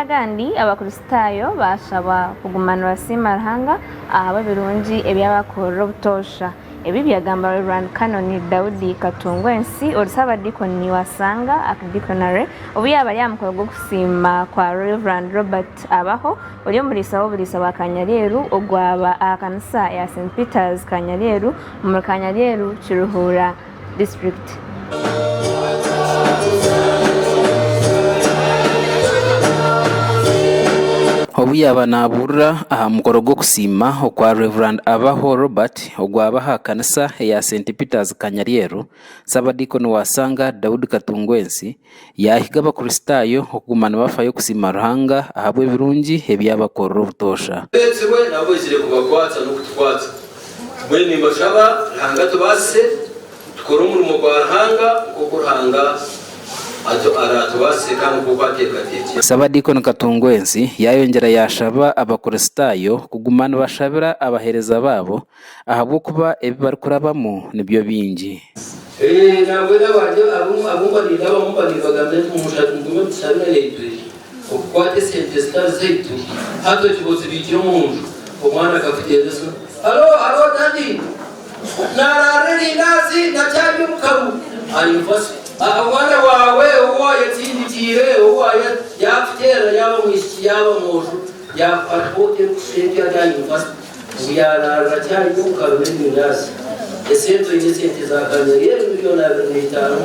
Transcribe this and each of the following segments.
Amazima agandi, Abakristaayo baashabwa kuguma nibasiima Ruhanga ahabw'ebirungi ebi abakorire obutoosha. Ebi byagambwa Reverand Canon Daudi Katungwensi, ori Ssaabadiikoni wa Sanga Archdeaconry, obu yaabaire aha mukoro gw'okusiima kwa Rev. Robert Abaho, ori omuriisa w'oburiisa bwa Kanyaryeru ogwaba aha kanisa ya St Peter's Kanyaryeru omuri Kanyaryeru Kiruhura. District. Obu yaaba naabuurira aha mukoro gw'okusiima okwa Rev. Abaho Robert ogwaba aha kanisa eya St Peter's Kanyaryeru, Ssabadiikoni wa Sanga Daudi Katungwensi, Yaahiga Abakristaayo okuguma nibafayo kusiima Ruhanga ahabw'ebirungi ebi yaabakorera obutoosha. Beetirwe nabo baizire kubakwatsa n'okutukwatsa. Mbwenu nimbashaba Ruhanga atubaasise tukore omurimo gwa Ruhanga nk'oku Ruhanga araatubaasise kandi nk'oku ateekateekire. Sabadiikoni Katungwensi yaayongyera yaashaba Abakristaayo kuguma nibashabira abaheereza baabo ahabw'okuba ebi barikurabamu nibyo bingi. Eeh, mbwenu abantu abu mbarirabamu mbaribagambira nti, Mumushatu mugume mutushabire naitwe okukwata esente ezitari zaitu, hati oti bozibiikire omu nju. Omwana akafuteera esimu, Halo, halo Dadi! Naaraara erindaazi nakyarya obukaru. Ayimfa si omwana waawe ou waayetindikiire, ou waafuteera, yaaba mwishiki yaaba mwojo, yaakukwataho ota eyo kusha empya? Ati ayimfa si? Ngu yaaraarura akyari muka rume Nirasi esente oine esente za Gamelieli milioni abiri na itaano.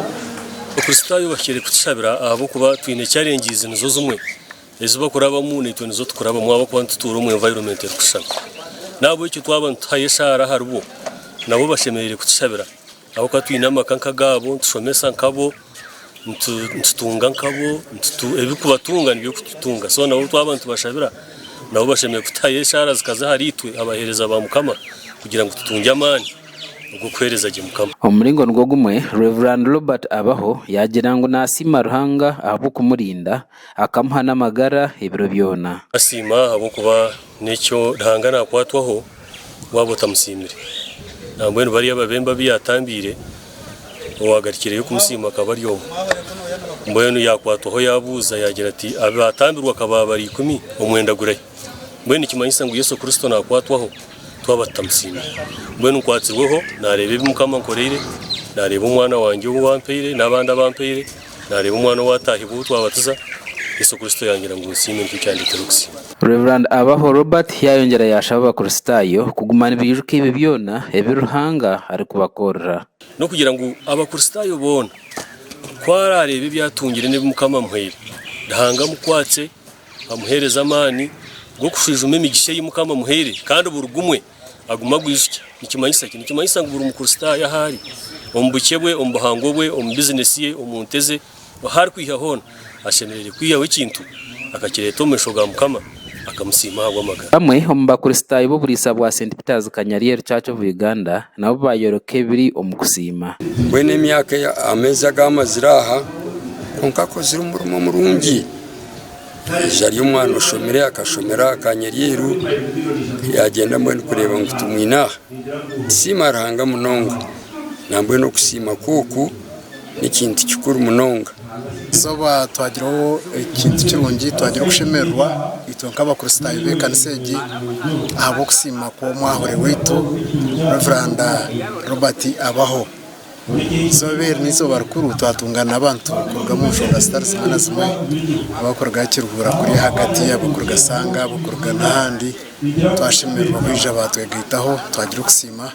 Abakristaayo bahikire kutushabira ahabw'okuba twine chalengizi nizo zimwe. Ezi bakurabamu naitwe nizo tukurabamu ahabw'okuba nitutuura omu environment erikushushana. N'ahabw'ekyo twaba nituhayo eshaara aharibo, nabo bashemereire kutushabira. Ahabw'okuba twine amaka nk'agaabo, nitushomesa nkabo, nitutunga nkabo, ebirikubatunga nibyo birikututunga. So nabo twaba nitubashabira, nabo bashemereire kutuhayo eshaara zikaza ahariitwe abaheereza ba Mukama kugira ngu tutungye amaani ag'okuheereza gye Mukama. Omu muringo nigwo gumwe, Rev. Robert Abaho yaagira ngu naasiima Ruhanga ahabw'okumurinda Akamuha n'amagara ebiro byona. Siima ahabw'okuba n'ekyo Ruhanga naakwatwaho waaba otamusiimire. Nambwenu bariya babembe abu yaatambiire, owaagarikireyo kumusiima akaba ari omwe. Mbwenu yaakwatwaho yaabuuza yaagira ati, Abu baatambirwa ka baaba bari ikumi, omwenda gurahi? Mbwenu nikimanyisa ngu Yesu Kristo naakwatwaho twaba tutamusiimire. Mbwenu nkwatsirweho, naareeba ebi Mukama ankoreire, naareeba Omwana wangye ou ampaire n'abandi abu ampaire. Naareeba omwana ou ataahibwa ou twabatiza, Yesu Kristo yangira ngu nsiime nikyo kyandeeteire okusiima. Rev. Abaho Robert yaayongyera yaashaba Abakristaayo kuguma nibaijuka ebyo byona ebi Ruhanga arikubakorera. N'okugira ngu Abakristaayo boona ku araareeba ebi atungire n'ebi Mukama amuhaire, Ruhanga amukwatse, amuheereze amaani g'okushwijuma emigisha ei Mukama amuhaire kandi buri gumwe aguma agwijukya nikimanyisa ki? Nikimanyisa ngu buri mukristaayo ahu ari, omu bukye bwe, omu buhango bwe, omu bizinesi ye, omu nte ze, ahu arikwiha hoona, ashemereire kwihaho ekintu akakireeta omu maisho ga Mukama akamusiima ahabw'amagara. Bamwe omu bakristaayo b'oburiisa bwa St Peter's Kanyarieru Church of Uganda nabo baayoreka ebiri omu kusiima. Mbwenu emyaka, ameezi agu amazire aha, kwonka akozire omurimo murungi. Haija ari omwana oshomire akashomera aha ka Nyeryeiru yagyenda mbwenu kureeba ngu tumwine aha. Tusiima Ruhanga munonga nambwenu okusiima kwe oku n'ekintu kikuru munonga. Eizooba twagireho ekintu kirungi, twagira okushemererwa itwe nk'abakristaayo b'ekanisa egi ahabw'okusiima kw'omwahure waitu Rev Robert Abaho. Eizooba eri n'eizooba rikuru twatunga n'abantu kuruga omu nshonga zitari zimwe na zimwe abarikuruga aha kiruhuura kuri ahagati, abarikuruga Shanga, abarikuruga n'ahandi twashemererwa kwija baatwegaitaho twagira okusiima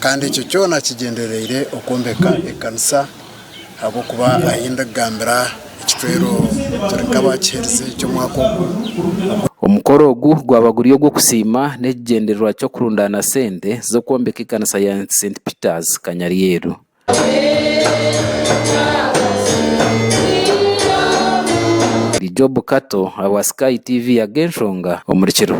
kandi ekyo kyona kigyendereire okwombeka ekanisa ahabw'okuba ahi ndigambira Ekicwero turi nk'abaakiherize eky'omwaka ogu. Omukoro ogu gwaba guri ogw'okusiima n'ekigyendererwa ky'okurundaana sente z'okwombeka ekanisa ya St Peter's Kanyaryeru. Ndi Job Kato ahabwa Sky TV Agenshonga omuri Kiruhura.